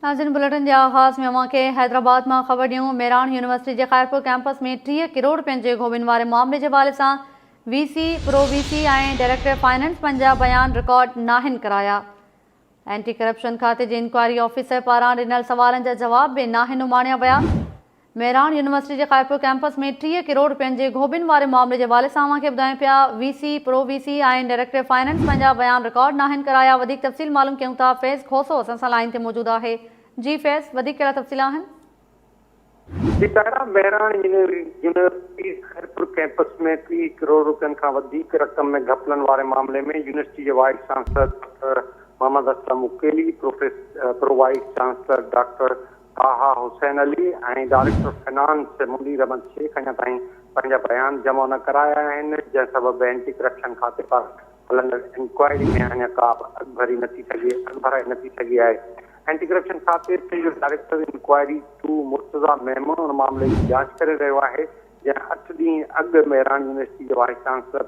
ناظرين بليٽن جي آغاز ۾ اوهان کي حيدرآباد مان خبر ڏيون ميراڻ يونيورسٽي جي خيرپور ڪيمپس ۾ ٽيهه ڪروڙ رپين جي گهوٻين واري معاملي جي حوالي سان V C, pro V C ۽ director finance پنهنجا بيان رڪارڊ ناهن ڪرايا. اينٽي ڪرپشن کاتي جي انڪوائري آفيسر پاران ڏنل سوالن جا جواب به ناهن اماڻيا ويا. مهراڻ يونيورسٽي جي خيرپور ڪيمپس ۾ ٽيهه ڪروڙ رپين جي گهوٻين واري معاملي جي حوالي سان اوهان کي ٻڌايون پيا V C, pro V C ۽ director finance پنهنجا بيان رڪارڊ ناهن ڪرايا وڌيڪ تفصيل معلوم ڪيون ٿا فيض کوسو اسان سان لائين تي موجود آهي جي فيض وڌيڪ ڪهڙا تفصيل آهن. جي طاهرا مهراڻ يونيورسٽي خيرپور ڪيمپس ۾ ٽيهه ڪروڙ رپين کان وڌيڪ رقم ۾ گهپلن واري معاملي ۾ يونيورسٽي جي vice chancellor doctor Muhammad Aslam مڪيلي، pro vice chancellor doctor Taha Hussain Ali ۽ director finance Munir Ahmed Shaikh اڃا تائين پنهنجا بيان جمع نه ڪرايا آهن، جنهن سبب اينٽي ڪرپشن کاتي پاران هلندڙ انڪوائري ۾ اڃا ڪا به اڳڀري نه ٿي سگهي اڳڀرائي نه ٿي سگهي آهي. اينٽي ڪرپشن کاتي سنڌ جو director inquiry two Murtaza Memon ان معاملي جي جاچ ڪري رهيو آهي. جنهن اٺ ڏينهن اڳ مهراڻ يونيورسٽي جي vice chancellor,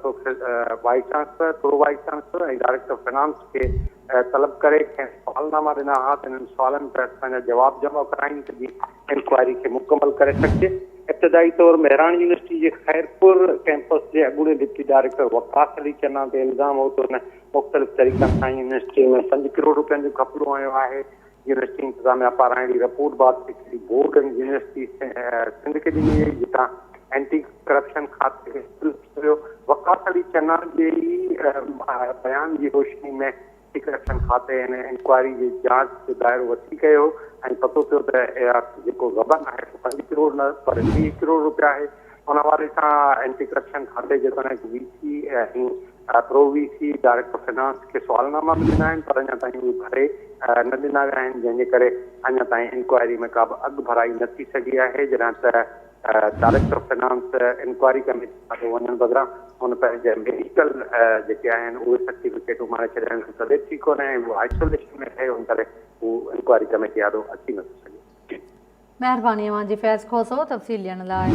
vice chancellor, pro vice chancellor ۽ director finance کي طلب ڪري کين سوالناما ڏنا ها ته انهن سوالن تحت اسان جا جواب جمع ڪرايون ته جيئن انڪوائري کي مڪمل ڪري سگهجي. ابتدائي طور مهراڻ يونيورسٽي جي خيرپور ڪيمپس جي اڳوڻي ڊپٽي ڊائريڪٽر وقاص علي چنا تي الزام هو ته هن مختلف طريقن سان يونيورسٽي ۾ پنج ڪروڙ روپين جو گهپلو هنيو آهي. يونيورسٽي انتظاميا پاران اهڙي رپورٽ بعد secretary board of university Sindh کي ڏني وئي جتان اينٽي ڪرپشن کاتي کي سلپ مليو. وقاص علي چنا جي ئي بيان جي روشني ۾ اينٽي ڪرپشن کاتي هن انڪوائري جي جاچ جو دائرو وسيع ڪيو هو ۽ پتو پيو ته جيڪو غبن آهي سو پنج ڪروڙ نه پر ويهه ڪروڙ روپيا آهي. ان حوالي سان اينٽي ڪرپشن کاتي جيتوڻيڪ V C ۽ pro V C director finance کي سوالناما مليل آهن پر اڃا تائين اهي ڀري نه ڏنا ويا آهن جنهن جي ڪري اڃا تائين انڪوائري ۾ ڪابه اڳڀرائي نه ٿي سگهي آهي جڏهن ته ڊائريڪٽر فنانس انڪوائري ڪميٽي کاتو وڃڻ بدران هن پنهنجا ميڊيڪل جيڪي آهن اهي سرٽيفڪيٽ اماڻي ڇڏيا آهن سو طبيعت ٺيڪ ڪونهي ۽ هو آئسوليشن ۾ رهي ان ڪري هو انڪوائري ڪميٽي آڏو اچي نٿو سگهي. مهرباني اوهان جي فيض کوسو تفصيل ڏيڻ لاء.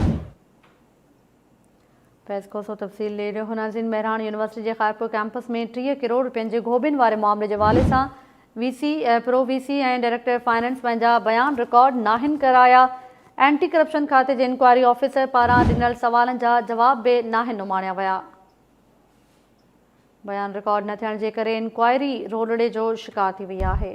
فيض کوسو تفصيل ڏئي رهيو هونازين مهراڻ يونيورسٽي جي خائرپور ڪئمپس ۾ ٽيهه ڪروڙ رپين جي گهوٻين واري معاملي جي حوالي سان V C pro V C ۽ director finance پنهنجا بيان رڪارڊ ناهن ڪرايا اينٽي ڪرپشن کاتي جي انڪوائري آفيسر پاران ڏنل سوالن جا جواب به ناهن اماڻيا ويا بيان رڪارڊ نه ٿيڻ جي ڪري انڪوائري رولڙي جو شڪار ٿي وئي آهي